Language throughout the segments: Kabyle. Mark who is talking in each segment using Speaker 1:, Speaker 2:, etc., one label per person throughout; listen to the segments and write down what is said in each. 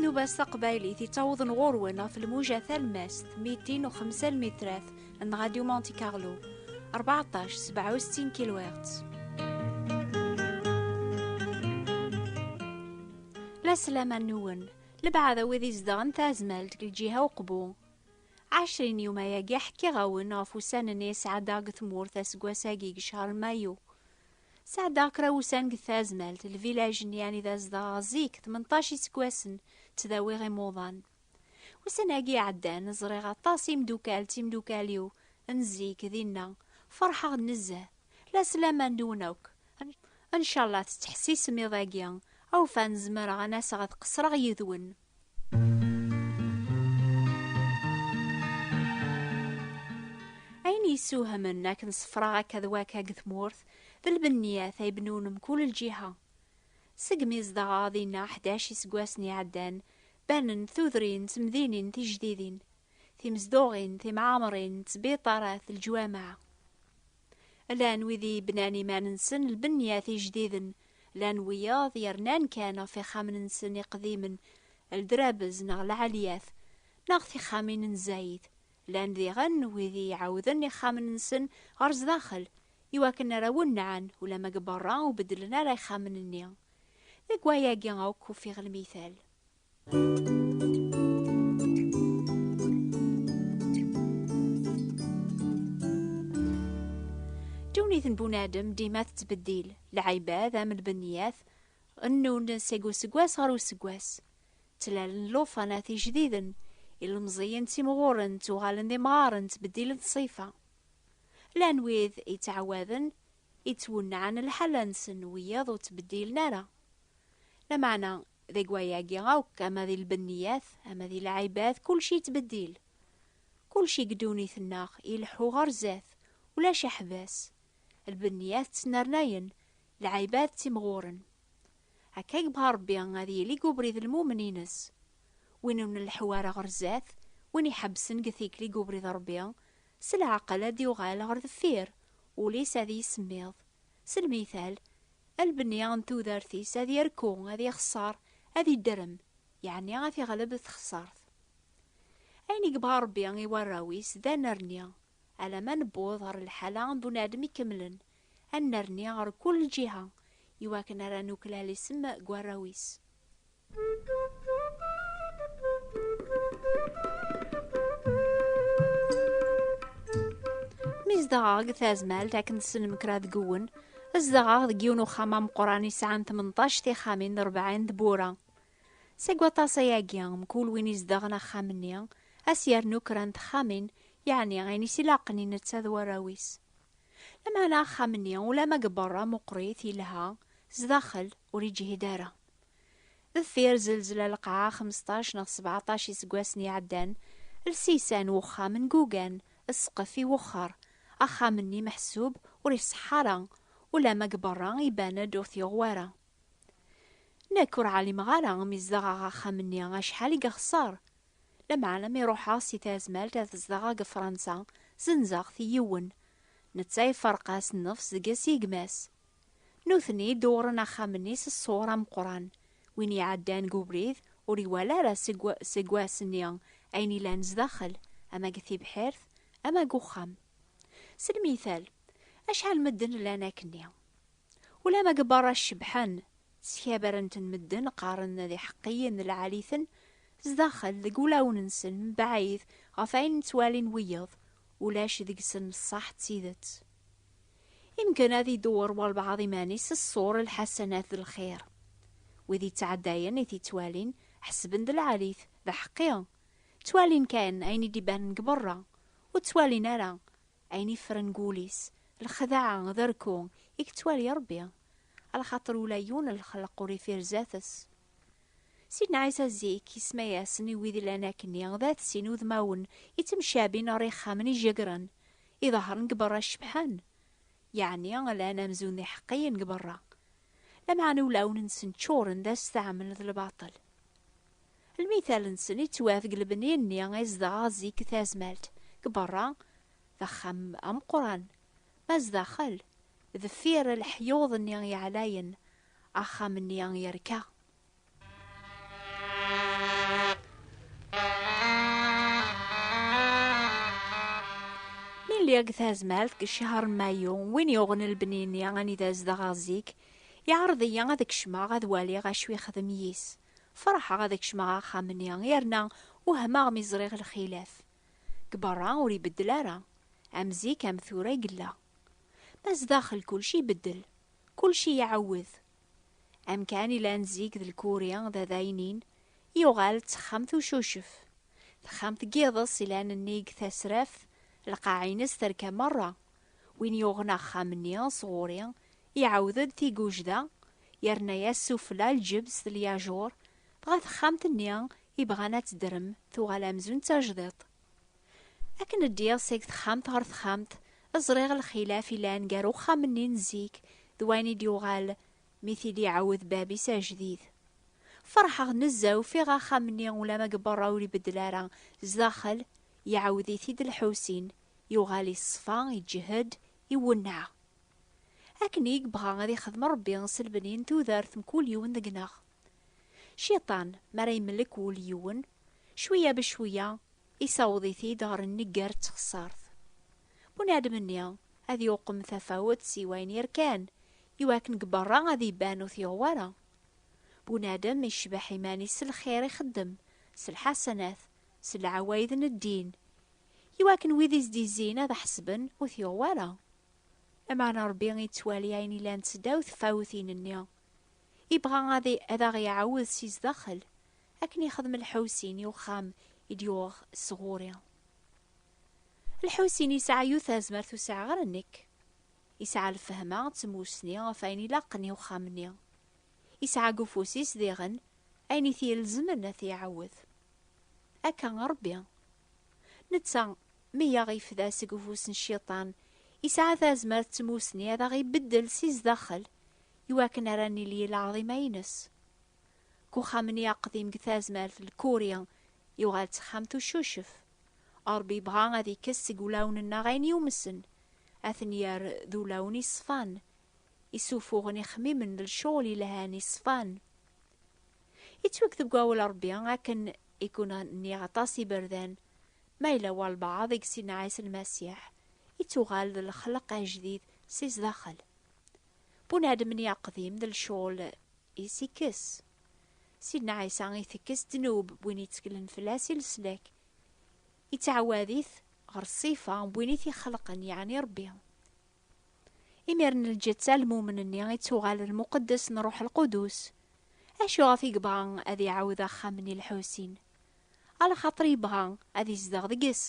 Speaker 1: tnuba-s taqbaylit yettawḍen ɣur-wen ɣef lmuja talmast 205 lmitrat n Radio Monte Carlo 14 67 kHz. La selaman nwen, lebɛad a wid izedɣen tazmalt deg lǧiha uqbu, Ɛecrin yum ayagi ḥkiɣ-awen ɣef ussan-nni i sɛeddaɣ deg tmurt aseggas-agi deg ccehr mayu. Sɛeddaɣ kra ussan deg tazmalt, lvilaj-nni anida zedɣeɣ zik, tmenṭac iseggasen, ttdawiɣ imuḍan. Ussan-agi iɛeddan, ẓriɣ aṭas imdukal d timdukal-iw n zik dinna, ferḥeɣ-d nezzeh. La sslaman deg-wen akk. Ncallah tettḥessisem iḍ-agi awfan zemreɣ an aseɣ ad qesreɣ yid-wen. Ayen yessuhamen akken sefraɣ akka d waka deg tmurt d lbenniat ay bnun mkul lǧiha. Segmi zedɣeɣ dinna ḥdac iseggasen iɛeddan, banen tudrin d temdinin tijdidin, timezduɣin, timɛamrin, ttbiṭarat, leǧwameɛ. Llan wid i yebnan iman-nsen lbenyat ijdiden, llan wiyaḍ yernan kan ɣef ixxamen-nsen iqdimen, ldrabez neɣ lɛalyat, neɣ tixxamin n zzayed, llan diɣen wid i iɛawden ixxamen-nsen ɣer zdaxel i wakken ara wennɛen ulamma deg berra ur beddlen ara ixxamen-nni. Deg wayagi akk ufiɣ lmital. Ddunit n bunadem dima tettbeddil, lɛibad am lbeniyat, nnun seg useggas ɣer useggas. Ttlalen lufanat ijdiden, ilmeẓiyen ttimɣuren, ttuɣalen d imɣaren, ttbeddilen ṣṣifa. Llan wid yettɛawaden, yettwennaɛen lḥala-nsen, wiyaḍ ur ttbeddilen ara. Lameɛna, Deg wayagi akk, ama di lbenniyat, ama di lɛibad, kulci yettbeddil. Kulci deg ddunit-nneɣ ileḥḥu ɣer zdat, ulac aḥbas. Lbenniyat ttnernayen, lɛibad ttimɣuren. Akka yebɣa Rebbi ad yili deg ubrid n lmumen-ines. Win ur nleḥḥu ara ɣer zdat, win iḥebbsen deg tikli deg ubrid n Rebbi, s leɛqel ad d-yuɣal ɣer deffir, ul-is ad yissemmiḍ. S lmital, Albni n tudert-is ad yerku, ad ixeṣṣer, ad idrem, yeɛni ad t-iɣleb texṣert. Ayen i yebɣa Rebbi i warraw-is d anerni, alama newweḍ ɣer lḥala n bunadem ikemlen, ad nerni ɣer kul lǧiha, iwakken ara nuklal isem deg warraw-is. zedɣeɣ deg tazmalt akken tessnem kra deg uwen zedɣeɣ deg yiwen uxxam ameqqran yesɛan 18 tixxamin d 40 tbura seg waṭas ayagi mkul win izedɣen axxam-nni as yernu kra n texxamin yeɛni ayen is ilaqen i netta d warraw-is lameɛna axxam-nni ulama deg berra meqqrit yelha sdaxel ur yeǧhid ara Deffir zelzla lqaɛa xemseṭṭac neɣ sebɛaṭac iseggasen iɛeddan, lsisa n wexxam n Gugan, ssqef iwexxer. Axxam-nni meḥsub ur iṣeḥḥa ara, ulamma deg berra iban-d ur t-yuɣ wara. Nekk ur ɛlimeɣ ara mi zedɣeɣ axxam-nni acḥal i yexṣer. Lameɛna mi ruḥeɣ si tazmalt ad zedɣeɣ deg Fransa, zenzeɣ-t i yiwen. Netta iferreq-as nnefs deg-s i gma-s. Nutni dewren axxam-nni s ṣṣur ameqqran. Win iɛeddan deg ubrid ur iwala ara seg wass-nni ayen yellan zdaxel, ama deg tibḥirt, ama deg uxxam. S lmithal, acḥal medden llan akkenni. Ulamma deg berra cebḥen, sskabaren-ten medden, qqaren d iḥeqqiyen, lɛali-ten, zdaxel, deg wulawen-nsen, mebɛid ɣef wayen ttwalin wiyeḍ, ulac deg-sen ṣṣeḥ d tidet. Imeggen ad idewwer walbaɛḍ iman-is s ṣṣur lḥasanat d lxir. Wid yettɛeddayen i t-ittwalin, ḥesben d lɛalit, d aḥeqqi. Ttwalin kan ayen i d-ibanen deg berra, ur ttwalin ara ayen iffren deg wul-is, lexdaɛa d arku i yettwali Rebbi, a lxaṭer ula yiwen n lxelq ur iffir zdat-s. Sidna Ɛisa zik, isemma-yasen i wid illan akkenni, d at sin udmawen ittemcabin ɣer yixxamen ijegren, idehṛen deg berra cebḥen, yeɛni lan amzun d iḥeqqiyen deg berra, lameɛna ulawen-nsen ččuren d asteɛmel d lbaṭel. Lmital-nsen ittwaf deg lebni-nni i zedɣeɣ zik deg tazmalt, deg berra, d axxam ameqqran, ma zdaxel, deffir leḥyuḍ-nni yeɛlayen, Axxam-nni yerka. Nili deg tazmalt deg ccher n mayu, win yuɣen lebni-nni anida zedɣeɣ zik, iɛreḍ-iyi ad kecmeɣ ad waliɣ acu yexdem yis. Ferḥeɣ ad kecmeɣ axxam-nni yerna wehmeɣ mi ẓriɣ lxilaf. Deg berra ur ibeddel ara. Am zik am tura i yella. Ma zdaxel kulci ibeddel. kulci iɛawed. Amkan ilan zik d lkuri d adaynin, yuɣal d texxamt ucucef. Texxamt n yiḍes ilan nnig tasraft, lqaɛ-ines terka merra. Win yuɣen axxam-nni sɣuri, iɛawed-d tigujda, yerna-yas sufella lǧebs d lyajuṛ, dɣa texxamt-nni ibɣan ad tedrem tuɣal amzun d tajdiṭ. Akken ddiɣ seg texxamt ɣer texxamt, ẓriɣ lxilaf ilan gar uxxam-nni n zik d wayen i d-yuɣal mi t-id iɛawed bab-is ajdid. Ferḥeɣ nezzeh ufiɣ axxam-nni ulama deg berra ur ibeddel ara, zdaxel iɛawed-it-id Lḥusin, yuɣal iṣfa, iǧhed, iwenneɛ. Akken i yebɣa ad ixdem Rebbi s lbenni n tudert mkul yiwen deg-neɣ. Ciṭan, mi ara yemlek wul yiwen, cwiya becwiya Isaweḍ-it-id ɣer nnger d txeṣṣart. Bunadem-nni ad yuqem tafawet si wayen yerkan, iwakken deg berra ad iban ur t-yuɣ wara. Bunadem icbeḥ iman-is s lxir ixeddem, s lḥasanat, s lɛawayed n ddin, iwakken wid i s-d-izzin ad ḥesben ur t-yuɣ wara. Lameɛna Rebbi ittwali ayen ilan seddaw tfawtin-nni, Ibɣa ad aɣ-iɛawed si zdaxel, akken ixdem lḥewsin i uxxam i d-yuɣ s ɣur-i. Lḥewsin yesɛa yiwet tazmert ur sɛiɣ ara nekk. Yesɛa lfehma d tmussni ɣef ayen ilaqen i uxxam-nni. Yesɛa deg ufus-is diɣen ayen i t-ilezmen ad t-iɛawed. Akka Rebbi Netta, mi yaɣ-ifda seg ufus n Cciṭan, isɛa tazmert d tmusni ad aɣ-ibeddel si zdaxel, iwakken ara nili lɛaḍima-ines. Deg uxxam-nni aqdim deg tazmert Lkuri, yuɣal d taxxamt ucucef. Ṛebbi ibɣa ad ikkes seg wulawen-nneɣ ayen yumsen, ad ten-yerr d ulawen iṣfan, isufuɣen ixmimen d lcɣel yelhan yeṣfan. Yettweg deg wawal Rebbi akken i ken-nniɣ aṭas iberdan, ma yella walbaɛḍ i yessinen Ɛisa Lmasiḥ, ittuɣal d lexleq ajdid si zdaxel. Bunadem-nni aqdim d lcɣel-is ikkes. Sidna Ɛisa itekkes ddnub n win yetteklen fell-as i leslak, yettɛawad-it ɣer ṣṣifa n win i t-ixelqen, yeɛni Rebbi. Imir n lǧetta lmumen-nni i ttuɣal lmuqeddes n Ruḥ Lqudus. Acu ɣef i yebɣa ad iɛawed axxam n Ilḥusin? Alxaṭer yebɣa ad izdeɣ deg-s.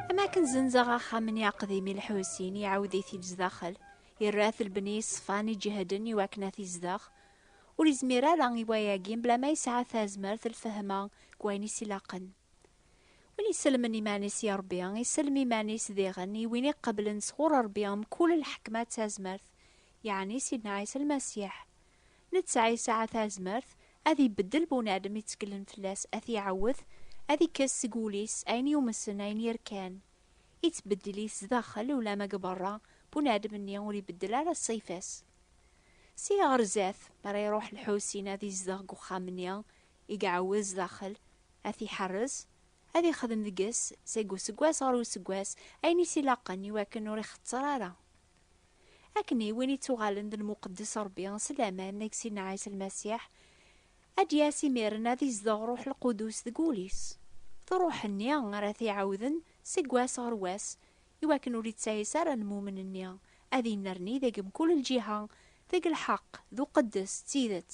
Speaker 1: Am akken zenzeɣ axxam-nni aqdim i lḥusin, iɛawed-it-id zdaxel, irra-t lbni iṣfan iǧehden i wakken ad t-izdeɣ. Ur izmir ara i wayagi mebla ma yesɛa tazmert lfehma deg wayen i s-ilaqen. Win isellmen iman-is i Ṛebbi, isellem iman-is diɣen i win iqeblen sɣur Ṛebbi mkul lḥekma d tazmert, yeɛni Sidna Ɛisa Lmasiḥ. Netta yesɛa tazmert ad ibeddel bunadem itteklen fell-as, ad t-iɛawed, ad ikkes seg wul-is ayen yumsen, ayen yerkan. Ittbeddil-it zdaxel ulamma deg beṛṛa, bunadem-nni ur ibeddel ara ṣṣifa-s. Seg ɣer zdat, mi ara iṛuḥ Lḥusin ad izdeɣ deg uxxam-nni, i iɛawez daxel, ad t-iḥerrez, ad ixdem deg-s seg useggas ɣer useggas ayen i s-ilaqen i wakken ur ixetter ara. Akken i win ittuɣalen d lmuqeddes Rebbi s laman deg Sidna Ɛisa Lmasiḥ, ad d-yas imiren ad izdeɣ Ṛṛuḥ Lqudus deg wul-is. D Ṛṛuḥ-nni ara t-iɛawden seg wass ɣer wass i wakken ur ittayes ara lmumen-nni, ad innerni deg mkul lǧiha deg lḥeqq d uqeddes d tidet.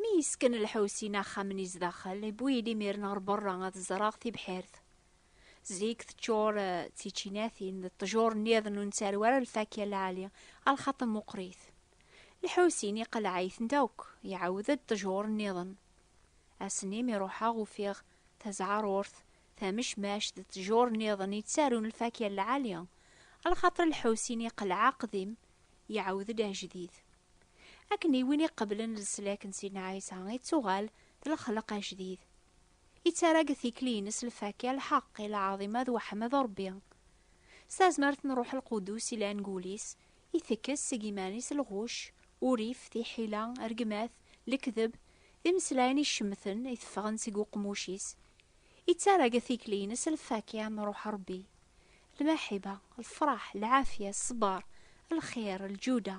Speaker 1: Mi yesken Lḥusin axxam-nni zdaxel, iwwi-yi-d imiren ɣer berra ad ẓreɣ tibḥirt. Zik teččur d tičinatin d ṭṭjur nniḍen ur nettarew ara lfakya n lɛali, ɣer lxaṭer meqqrit. Lḥusin iqelleɛ-itent akk, iɛawed-d ṭṭjur nniḍen. Ass-nni mi ruḥeɣ ufiɣ tazeɛrurt, tamecmact d ṭṭjur nniḍen yettarun lfakya n lɛali, ɣer lxaṭer Lḥusin iqelleɛ aqdim iɛawed-d ajdid. Akken i win iqeblen leslak n Sidna Ɛisa ittuɣal d lexleq ajdid. Ittarra deg tikli-ines lfakya, lḥeqq, i lɛaḍima d weḥmed Ṛebbi. S tazmert n Ṛuḥ Lqudus ilan deg wul-is, itekkes seg iman-is lɣucc, urrif, tiḥila, rregmat, lekdeb, d imeslayen icemten iteffɣen seg uqmuc-is. Ittarra deg tikli-ines lfakya n Ṛuḥ Ṛebbi. lmaḥiba, lfraḥ, lɛafya, ṣṣber, lxir, lǧuda,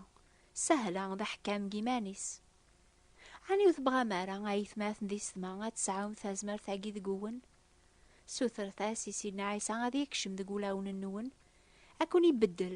Speaker 1: sahla, d aḥekkam deg yiman-is. Ɛni ur tebɣam ara, a yetmaten di setma, ad tesɛum tazmert-agi deg-wen? Sutret-as i Sidna Ɛisa ad yekcem deg wulawen-nwen, ad ken-ibeddel,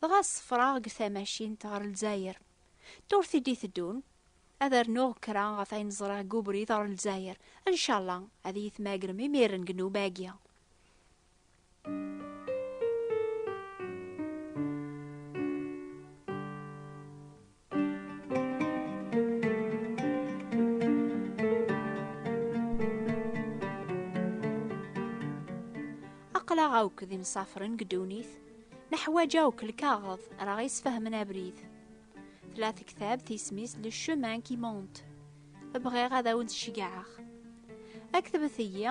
Speaker 1: Dɣa ṣefreɣ deg tamacint ɣer Lezzayer. Turti-d i teddun, ad rnuɣ kra ɣef ayen ẓriɣ deg ubrid ɣer Lezzayer. Ncalla ad iyi-tmagrem imiren deg nnuba-agi. aql-aɣ akk d imsafren deg ddunit neḥwaǧ akk lkaɣeḍ ara ɣ-isfehmen abrid tla tektabt isem-is le chemin qui monte bɣiɣ ad awen-d-ceggɛeɣ aktbet-iyi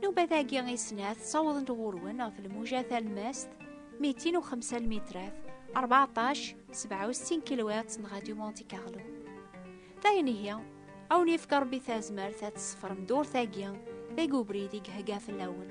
Speaker 1: Nubat-agi i snat ssawḍent ɣur-wen ɣef lmuja talmast 205 lmitrat 14 67 kilowat n Radio Monte Carlo. Dayen ihi, awen yefka Rebbi tazmert ad tsefrem durt-agi deg ubrid i gehga fell-awen.